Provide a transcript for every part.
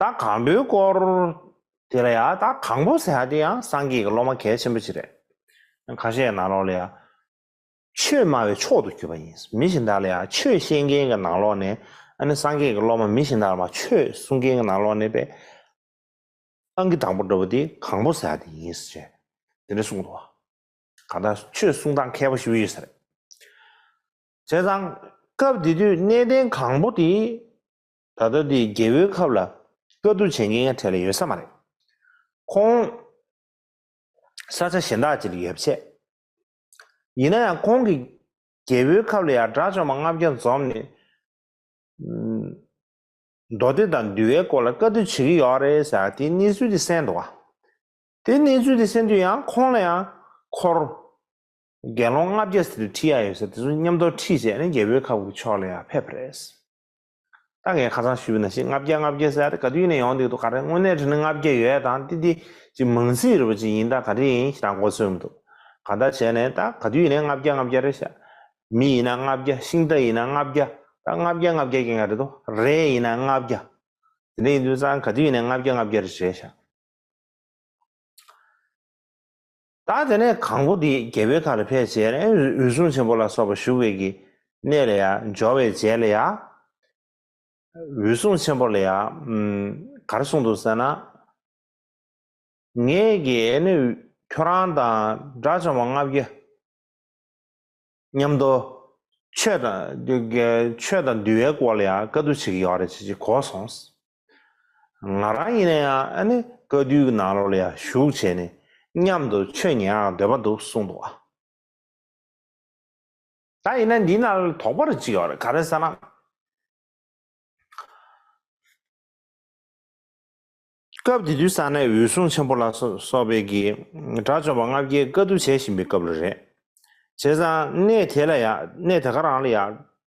ད་གང་འདོད་སྐོར་དེ་ལ་ཡ་ད་གང་པོ་ཟེར་ཡ་དེ་ཡང་སངས་རྒྱས་ཀྱི་སློབ་མ་གལ་ཆེན་པོ་ཅིག་རེད། གང་ཤེས་ནང་ལོགས་ལ་ཡ། ཆོས་སྨྲ་བའི་མཆོག་ཏུ་གྱུར་པ་ཡིན། མི་གཞན་དག་ལ་ཡ་ཆོས་ཤེས་མཁན་གྱི་ནང་ལོགས་ནས་ཨ་ནི་སངས་རྒྱས་ཀྱི་སློབ་མ་མི་གཞན་དག་ལ་མ་ཆོས་གསུང་མཁན་གྱི་ནང་ལོགས་ནས་པས། ཨང་ཀི་དང་པོ་འགྲོ་བ་དེ་གང་པོ་ཟེར་ཡ་དེ་ཡིན། ཅེས་དེ་འདྲ་གསུངས་འདུག་གང་ལྟར་ཆོས་གསུང་སྟངས་མཁས་པོ་ཞིག་ཡོད་ས་རེད། བྱས་ཙང། སྐབས་དེ་དུས་གནས་བརྟན་གང་པོ་དེ། ད་ལྟ་འདི་རྒྱལ་བོའི་ཁབ་ལ་དཀའ་སྡུག་བྱེད་མཁན་གྲས་ལ་ཡོད་ས་མ་རེད། ཁོང་ས་ཆ་གཞན་དག་ཅིག་ལ་ཡོད་པ་ཆད། ཡིན་ན་ཡང་ཁོང་གིས་རྒྱལ་བོའི་ཁབ་ལ་ཡང་དགྲ་བཅོམ་པ་ལྔ་བརྒྱ་འཛོམས་ནས། མདོ་སྡེ་དང་འདུལ་བའི་སྐོར་ལ་དཀའ་སྡུག་བྱེད་ཀྱི་ཡོད་རེད་ཟེར་དེའི་གནས་ཚུལ་དེ་གསན་འདུག་དེ་གནས་ཚུལ་དེ་གསན་དུས་ཡང་ཁོང་ལ་ཡང་འཁོར་རྒྱལ་སློང་ལྔ་བརྒྱ་ཟེར་དུ་ཁྲིད་ཡ་ཡོད་ཟེར་དེ་ཚོ་མཉམ་དོར་ཁྲིད་བྱས་ནས་རྒྱལ་བོའི་ཁབ་ཀྱི་ཕྱོགས་ལ་ཡང་ཕེབས་པ་རེད། ད་ངས་ཁ་ཚང་ཞུས་པ་ན་ཞེ་ལྔ་བརྒྱ་ལྔ་བརྒྱ་ཟེར་ཡ་རེད་ག་དུས་ནས་ཡོང་འདུག་དུ་ག་རེ་དངོས་གནས་དྲི་ན་ལྔ་བརྒྱ་ཡོད་ད་འདི་འདི་ཅིག་མང་སྲིད་རེད་པ་ཅིག་ཡིན་ད་ག་རེ་ཡིན་ཞེ་ད་མགོ་ཚོས་མི་འདུག་ག་ད་བྱས་ནས་ད་ག་དུས་ནས་ལྔ་བརྒྱ་ལྔ་བརྒྱ་རེད་ཞག་མི་ཡིན་ན་ལྔ་བརྒྱ་ཤིང་རྟ་ཡིན་ན་ལྔ་བརྒྱ་ད་ལྔ་བརྒྱ་ལྔ་བརྒྱ་ཀྱང་ཡང་རེད་དོ་རེ་ཡིན་ན་ལྔ་བརྒྱ་དེ་འདྲ་ཡིན་དུས་ཙང་ག་དུས་ནས་ལྔ་བརྒྱ་ལྔ་བརྒྱ་རེད་བྱས་ཞག། ད་དེ་ནས་གང་པོ་དེ་རྒྱལ་པོའི་ཁ་ལ་ཕེབས་བྱས་ནས་འོད་སྲུང་ཆེན་པོ་ལ་སོགས་པ་བཞུགས་པའི་གི་གནས་ལ་ཡང་སྦྱོར་བའི་རྗེས་ལ་ཡང། འོད་སྲུང་ཆེན་པོ་ལ་ཡང། གར་གསུངས་འདུག་ཟེར་ན། ངས་ཀྱི་ནི་ཁྱོད་རང་དང་དགྲ་བཅོམ་པ་ལྔ་བརྒྱ། མཉམ་དུ། ཆོས་དང། འདུལ་བའི་སྐོར་ལ་ཡང་བཀའ་བསྡུ་བྱེད་ཀྱི་ཡོད་རེད་ཅེས་གོ་སོང། ང་རང་ཡིན་ན་ཡང་བཀའ་བསྡུའི་ནང་ལོགས་ལ་ཡང་ཞུགས་བྱས་ནས་མཉམ་དུ་ཆོས་ཉན་ཡང་འདོད་པ་འདུག་གསུངས་འདུག་ཨ། ད་ཡིན་ན་འདི་ན་དོགས་པ་རེ་ཅིག་ཡོད་རེད་ག་རེ་ཟེར་ན། སྐབས་དེ་དུས་ས་གནས་འོད་སྲུང་ཆེན་པོ་ལ་སོགས་པའི་གིས་དགྲ་བཅོམ་པ་ལྔ་བརྒྱའི་བཀའ་བསྡུ་བྱེད་བཞིན་པའི་སྐབས་རེ་རེད། བྱས་ཙང་གནས་དེ་ལ་ཡང་གནས་དེ་ག་རང་ལ་ཡང་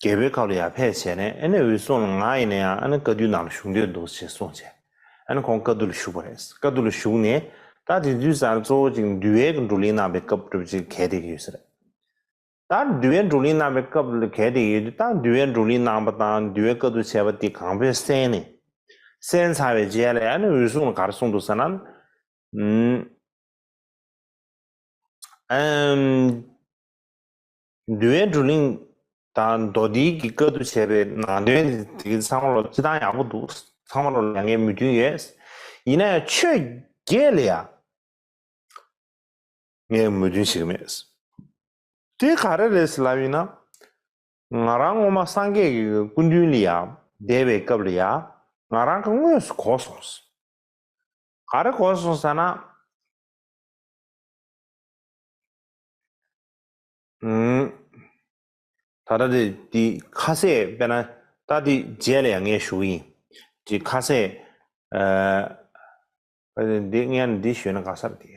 རྒྱལ་པོའི་ཁབ་ལ་ཡར་ཕེབས་བྱས་ནས་ཨ་ནི་འོད་སྲུང་ལ་ང་ཡིན་ན་ཡང་ཨ་ནི་བཀའ་བསྡུའི་ནང་ལ་བཞུགས་འདོད་འདུག་ཅེས་གསུངས་རྗེས་ཨ་ནི་ཁོང་བཀའ་བསྡུ་ལ་ཞུགས་པ་རེད། བཀའ་བསྡུ་ལ་བཞུགས་ནས་ད་དེ་དུས་སར་གཙོ་བོ་ཅིག་འདུལ་བའི་བགྲོ་གླེང་གནང་བའི་སྐབས་སྒྲུབ་བྱེད་གལ་ཏེ་ཡོད་ས་རེད། ད་འདུལ་བའི་བགྲོ་གླེང་གནང་བའི་སྐབས་ལ་གལ་ཏེ་ཡོད་དུས་ད་འདུལ་བའི་བགྲོ་གླེང་གནང་བ་དང་འདུལ་བའི་བཀའ་བསྡུ་བྱས་པ་དེ་གང་པོས་གསན་ནས་གསན་ཚར་བའི་རྗེས་ལ་ཨ་ནི་འོད་སྲུང་ལ་ག་རེ་གསུངས་འདུག་ཟེར་ན། ཨ་ནི། འདུལ་བའི་བགྲོ་གླེང་དང་མདོ་སྡེ་གྱི་བཀའ་བསྡུ་བྱས་པའི་ནང་དོན་དེ་ཚང་མར་སྤྱི་བཏང་ཡག་པོ་འདུག་ཚང་མར་ལས་འགན་མོས་མཐུན་ཡོད། ཡིན་ན་ཡང་ཆོས་བརྒྱད་ལ་ཡང་ངས་མོས་མཐུན་བྱེད་ཀྱི་མེད། དེ་ག་རེ་རེད་ཟེར་ལབ་ཡིན་ན། ང་རང་སྔོན་མ་སངས་རྒྱས་ཀྱི་སྐུ་མདུན་ལ་ཡང་བསྡད་པའི་སྐབས་ལ་ཡང་ང་རང་གི་དངོས་སུ་གོ་སོང་ཟེར། ག་རེ་གོ་སོང་ཟེར་ན། ད་ལྟ་དེ་དེ་ཁ་ཟས་དཔེར་ན་ད་དེ་རྗེས་ལ་ཡང་ངས་ཞུ་གི་ཡིན། དེ་ཁ་ཟས་འདི་ངས་ནི་འདི་ཞུས་ན་ག་སར་དེ།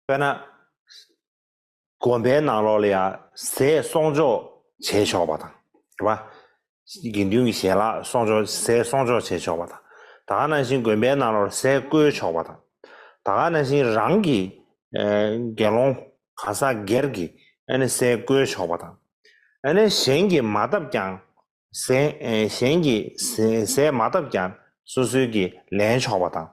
དཔེར་ན། དགོན་པའི་ནང་ལོགས་ལ་ཡང་ཟས་གསོག་འཇོག་བྱས་ཆོག་པ་དང། དགེ་འདུན་གྱི་ཞལ་ལག་གསོག་འཇོག་ཟས་གསོག་འཇོག་བྱས་ཆོག་པ་དང། ད་ག་ནང་བཞིན་དགོན་པའི་ནང་ལོགས་ཟས་བསྐོལ་ཆོག་པ་དང། ད་ག་ནང་བཞིན་རང་གི་དགེ་སློང་གང་ཟག་སྒེར་གྱིས་ཟས་བསྐོལ་ཆོག་པ་དང། གཞན་གྱིས་མ་བཏབ་ཀྱང་གཞན་གྱིས་ཟས་མ་བཏབ་ཀྱང་སོ་སོའི་གིས་ལེན་ཆོག་པ་དང།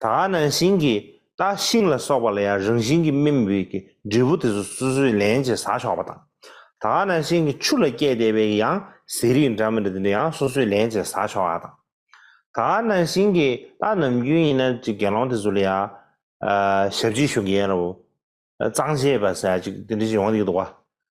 ད་ག་ནང་བཞིན་གྱིས་རྟ་ཤིང་ལ་སོགས་པ་ལ་ཡང་རང་བཞིན་གྱི་སྨིན་བུའི་གི་འབྲས་བུ་དེ་ཚོ་སོ་སོའི་ལེན་གྱིས་ཟ་ཆོག་པ་དང། ད་ག་ནང་བཞིན་གྱིས་ཆུ་ལ་སྐྱེས་བསྡད་པའི་གི་ཡང་ཟས་རིགས་འདྲ་མི་འདྲ་དེ་ཚོ་ཡང་སོ་སོའི་ལེན་གྱིས་ཟ་ཆོག་པ་དང། ད་ག་ནང་བཞིན་གྱིས་རྟ་ནམ་རྒྱུན་ཡིན་ན་ཅིག་དགེ་སློང་དེ་ཚོ་ལ་ཡང་ཞབས་ཕྱི་ཞུ་གི་ཡིན་རབ། གཙང་བྱེད་པ་ཟས་ཅིག་དེ་འདྲ་ཞིག་ཡོང་གི་འདུག་བ།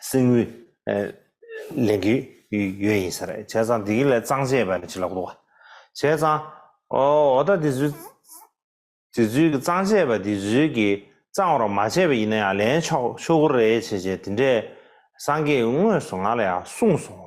སེང་བུ། ལེན་གྱི་ཡོད་ཡིན་ཟེར། བྱས་ཙང་འདི་གི་ལས་གཙང་བྱས་པ་ནི་ཅི་ལ་གོ། བྱས་ཙང། འོ་ད་དེ་ཚོའི་དེ་ཚོའི་གི་གཙང་བྱས་པ་དེ་ཚོའི་གི་གཙང་བར་མ་བྱས་པ་ཡིན་ན་ཡང་ལེན་ཆོག་ཆོག་གུ་རེད་བྱས་བྱས་དེ་འདྲས་སངས་རྒྱས་དངོས་སུ་ང་ལ་ཡང་གསུངས་སོང།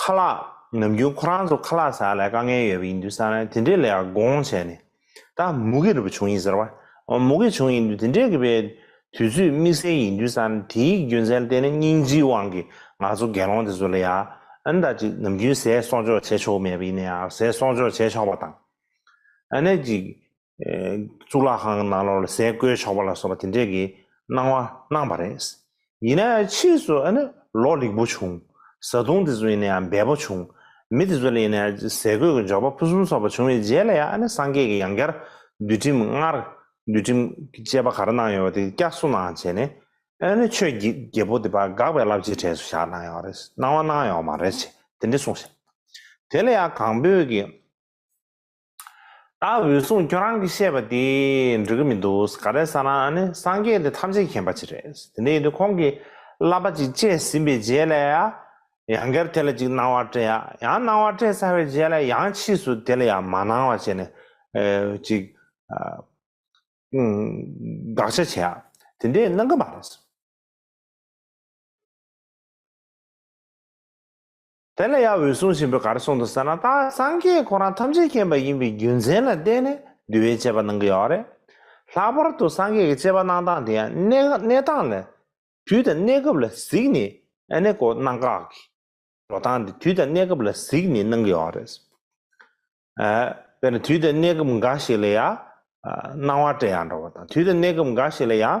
ཁ་ལག་ནམ་རྒྱུན་ཁོ་རང་ཚོ་ཁ་ལག་ཟ་ལ་དཀའ་ངལ་ཡོད་པ་ཡིན་དུས་ས་རན་དེ་འདྲའི་ལས་ཀ་དགོངས་བྱས་ནས་ད་མུ་གེ་རུ་བྱུང་ཡིན་ཟེར་བ། མུ་གེ་བྱུང་ཡིན་དུས་དེ་འདྲའི་གི་པའི་དུས་ཚོད་དམིགས་བསལ་ཡིན་དུས་ས་རན་དེའི་རྒྱུ་མཚན་བལྟས་ན་སྙིང་རྗེའི་དབང་གིས་ང་ཚོ་དགེ་སློང་དེ་ཚོ་ལ་ཡང་ད་ཅིག་ནམ་རྒྱུན་ཟས་གསོག་འཇོག་བྱས་ཆོག་གི་མེད་པ་ཡིན་ན་ཡང་ཟས་གསོག་འཇོག་བྱས་ཆོག་པ་དང། ཨ་ནེ་ཅིག་གཙུག་ལག་ཁང་གི་ནང་ལོགས་ལ་ཟས་བསྐོལ་ཆོག་པ་ལ་སོགས་པ་དེ་འདྲས་ཀྱི་གནང་བ་གནང་བ་རེད། ཡིན་ན་ཡང་ཕྱིས་སུ་ཨ་ནི་ལོ་རིག་པོ་བྱུང། བཟའ་བཏུང་དེ་ཚོ་ཡིན་ན་ཡང་འབད་པོ་བྱུང། མི་དེ་ཚོ་ལ་ཡིན་ན་ཡང་ཟས་གོས་ཀྱི་འབྱོར་པ་ཕུན་སུམ་ཚོགས་པ་བྱུང་བའི་རྗེས་ལ་ཡང་ཨ་ནི་སངས་རྒྱས་ཀྱི་ཡང་བསྐྱར་འདུལ་ཁྲིམས་སྔར་འདུལ་ཁྲིམས་བཅས་པ་ག་རེ་གནང་ཡོད་པ་དེ་བསྐྱར་གསོ་གནང་བྱས་ནས་ཨ་ནི་ཆོས་རྒྱལ་པོ་དེ་དཔའ་འགག་པའི་རླབས་ཆེའི་གྲས་སུ་བཞག་གནང་ཡོད་རེད་གནང་བ་གནང་ཡོད་མ་རེད་ཅེས་དེ་འདྲས་གསུངས་བྱས། དེ་ལ་ཡང་གངས་བོད་ཀྱི། ད་འོད་སྲུང་ཁྱོད་རང་གི་བཤད་པ་དེ་འགྲིག་གི་མི་འདུག་ག་རེ་ཟ་ན་ཨ་ནི་སངས་རྒྱས་དེ་ཐམས་ཅད་མཁྱེན་པ་ཅིག་རེད་དེ་འདྲ་ཡིན་དུས་ཁོང་གིས་བསླབ་པ་ཅིག་སྤྱད་ཟིན་པའི་རྗེས་ལ་ཡང་སྒེར་དེ་ལ་ཅིག་གནང་བ་སྤྲད་ཡང་གནང་བ་སྤྲད་ཚར་བའི་རྗེས་ལ་ཡང་ཕྱིས་སུ་དེ་ལ་ཡང་མ་གནང་བ་བྱས་ནས་ཅིག་དགག་བྱ་བྱས་ཡ་དེ་འདྲས་གནང་གི་མ་རེད། དེ་ལ་ཡང་འོད་སྲུང་ཆེན་པོས་གར་གསུངས་དུ་ཟེར་ན་ད་སངས་རྒྱས་ཁོ་རང་ཐམས་ཅད་མཁྱེན་པ་ཡིན་པའི་རྒྱུ་མཚན་ལ་བརྟེན་ནས་འདུལ་བའི་དཔྱད་པ་གནང་གི་ཡོད་རེད། ལྷག་པར་དུ་སངས་རྒྱས་ཀྱི་དཔྱད་པ་གནང་སྟངས་དེ་ཡང་གནས་སྟངས་ལ་དུས་དང་གནས་སྐབས་ལ་གཟིགས་ནས་ཨནེ་ཀོ་གནང་དཀའ་གི། འགྲོ་སྟངས་དེ་དུས་དང་གནས་སྐབས་ལ་གཟིགས་ནས་གནང་གི་ཡོད་རེད། དཔེར་ན་དུས་དང་གནས་སྐབས་འགའ་ཞིག་ལ་ཡང་སྣང་བ་བཀྲལ་ཡང་འགྲོ་བ་དང་དུས་དང་གནས་སྐབས་འགའ་ཞིག་ལ་ཡང།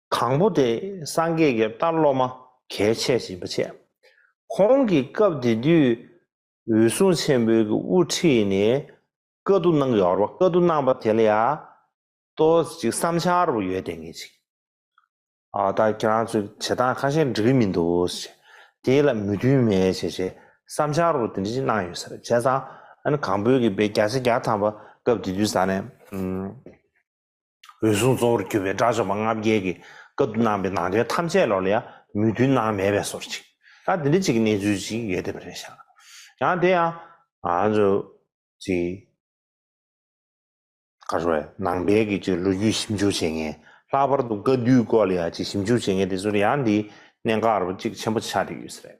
དང་པོ་དེ་སངས་རྒྱས་ཀྱི་ལྟ་སློབ་མ་གལ་ཆེ་ཞིང་བར་ཆད། ཁོང་གིས་སྐབས་དེ་དུས་འོད་སྲུང་ཆེན་པོའི་དབུ་ཁྲིད་ནས་བཀའ་བསྡུ་གནང་གི་ཡོད་རེད་པ་བཀའ་བསྡུ་གནང་པ་དེ་ལ་ཡང་ལྟོས་ཅིག་བསམ་འཆར་རེ་བ་ཡོད་བལྟས་ངེས་ཅིག་ཨ་ད་ཁྱེད་རང་ཚོས་བྱེད་སྟངས་ཁ་ཤས་འགྲིག་གི་མི་འདུག་ཞེས་དེ་ལ་མོས་མཐུན་མེད་ཞེས་ཞེས་བསམ་འཆར་རེ་བ་དེ་འདྲ་ཞིག་གནང་ཡོད་ས་རེད་བྱས་ཙང་ཨ་ནི་གང་བོད་ཀྱི་བེ་བརྒྱ་ཆ་བརྒྱ་ཐམ་པ་སྐབས་དེ་དུས་ས་ནས་འོད་སྲུང་གཙོ་བོར་གྱུར་པའི་དགྲ་བཅོམ་པ་ལྔ་བརྒྱད་ཀྱི་སྐབས་སུ་གནང་པའི་ནང་དོན་ཐམས་ཅད་ལོགས་ལ་ཡང་མོས་མཐུན་སྣང་མེད་པའི་སོར་ཅིག་ད་འདི་འདྲ་ཅིག་གི་གནས་ཚུལ་ཅིག་ཡོད་དེ་པ་རེད་བཞག་ཡང་དེ་ཡང་ང་ཚོ་ཚོའི་ཁ་ཧྲོ་བའི་ནང་པའི་གི་ཅིག་ལོ་རྒྱུས་ཞིབ་འཇུག་བྱེད་མཁན་ལྷག་པར་དུ་བཀའ་བསྡུའི་སྐོར་ལ་ཡང་ཅིག་ཞིབ་འཇུག་བྱེད་མཁན་དེ་ཚོར་ཡང་འདིའི་གནད་འགག་རུ་ཅིག་ཆེན་པོ་ཆགས་བསྡད་ཡོད་ས་རེད།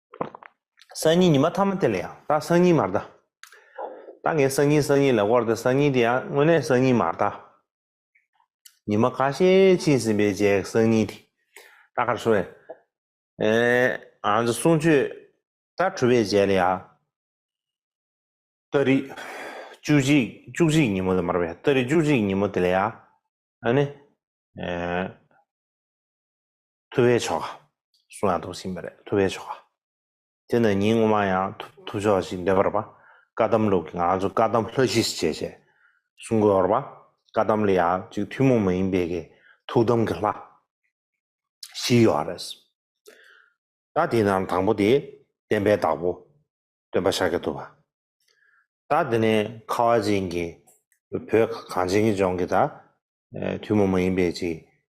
སང་ཉིན་ཉི་མ་ཐ་མ་དེ་ལ་ཡང་ད་སང་ཉིན་མར་ད། ད་ངས་སང་ཉིན་སང་ཉིན་ལ་བསྐོར་ཏེ་སང་ཉིན་དེ་ཡང་དངོས་གནས་སང་ཉིན་མར་ད། ཉི་མ་ཁ་ཤས་ཕྱིན་ཟིན་པའི་རྗེས་སང་ཉིན་དེ་ད་གར་སོང་བས། ཨེ། ང་ཚོ་གསུང་ཆོས་ད་གྲུབ་པའི་རྗེས་ལ་ཡང། སྟོད་རིགས། བཅུ་གཅིག་བཅུ་གཅིག་ཉིན་མོ་ལ་མར་བས་སྟོད་རིགས་བཅུ་གཅིག་ཉིན་མོ་དེ་ལ་ཡང། ཨེ། ཐུབ་པའི་ཆོ་ག། གསུང་ཡང་ཐུབ་ཟིན་པ་རེད་ཐུབ་པའི་ཆོ་ག། དེ་ནི་ཉིན་སྔོན་མ་ཡང་ཐུབ་ཆོག་ཅིག་འདེབས་པར་བཀའ་གདམས་ལུགས་ཀྱི་ང་ཚོ་བཀའ་གདམས་ལྷ་གཞིས་བྱེས་བྱས་གསུང་དགོས་པར་བཀའ་གདམས་ལ་ཡང་ཅིག་ཐུན་མོང་མ་ཡིན་པའི་གི་ཐུགས་དམ་གྱི་ལྷ་གཞིས་ཡོད་རེད། ད་དེ་ནང་དང་པོ་དེ་བསྟན་པའི་བདག་པོ་སྟོན་པ་ཤཱཀྱ་ཐུབ་པ། ད་དེ་ནས་ཁ་བ་ཅན་གྱི་བོད་གངས་ཅན་གྱི་ལྗོངས་ཀྱི་ད་ཐུན་མོང་མ་ཡིན་པའི་ཅིག་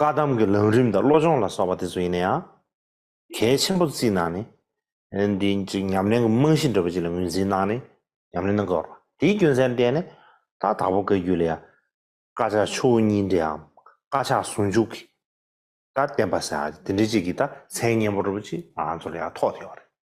བཀའ་གདམས་ཀྱི་ལམ་རིམ་དང་བློ་སྦྱོང་ལ་སོགས་པ་དེ་ཚོ་ཡིན་ན་ཡང། གལ་ཆེན་པོ་བརྩིས་གནང་ནས། འདི་ཅིག་ཉམས་ལེན་གྱི་རྨང་གཞི་འདྲ་བོ་ཅིག་ལ་ངོས་འཛིན་གནང་ནས་ཉམས་ལེན་གནང་དགོས། དེའི་རྒྱུ་མཚན་བསྟན་ནས། ད་དྭགས་པོ་བཀའ་རྒྱུད་ལ་ཡང། བཀའ་ཕྱག་ཆུ་བོ་གཉིས་འདྲེའམ། བཀའ་ཕྱག་ཟུང་འཇུག་གི། ད་བསྟན་པ། དེ་འདྲའི་ཅིག་གི་ད་མཚན་སྙན་པོ་འདྲ་བོ་ཅིག་ང་ཚོ་ལ་ཡང་ཐོགས་ཐེ་བ་རེད།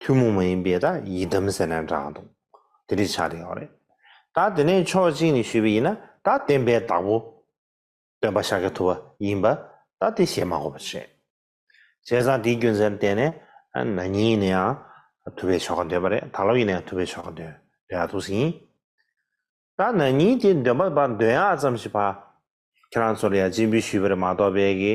ཐུན་མོང་མ་ཡིན་པའི་དག་ཡིག་གདམ་ཟེར་ན་འདྲ་འདུག་དེ་འདྲའི་ཆ་དེ་ཡོད་རེད། ད་དེ་ནས་ཕྱོགས་གཅིག་ནས་ཞུས་པ་ཡིན་ན་ད་བསྟན་པའི་བདག་པོ། སྟོན་པ་ཤཱཀྱ་ཐུབ་པ་ཡིན་པ་ད་དེ་བཞེད་མ་དགོས་པ་རེད། བྱས་ཙང་དེའི་རྒྱུ་མཚན་བསྟན་ནས་ན་ཉིད་ཡིན་ན་ཡང་ཐུབ་པའི་ཆོ་ག་འདོན་པ་རེད་ད་ལོ་ཡིན་ན་ཡང་ཐུབ་པའི་ཆོ་ག་འདོན་ཡག་ཐུག་སྲིད་ཡིན། ད་ན་ཉིད་དེ་འདོན་པ་འདོན་ཡག་ཙམ་ཞིག་བ། ཁྱེད་རང་ཚོར་ཡང་སྤྱི་འབུལ་ཞུས་པ་རེད་མ་གཏོགས་བལ་གི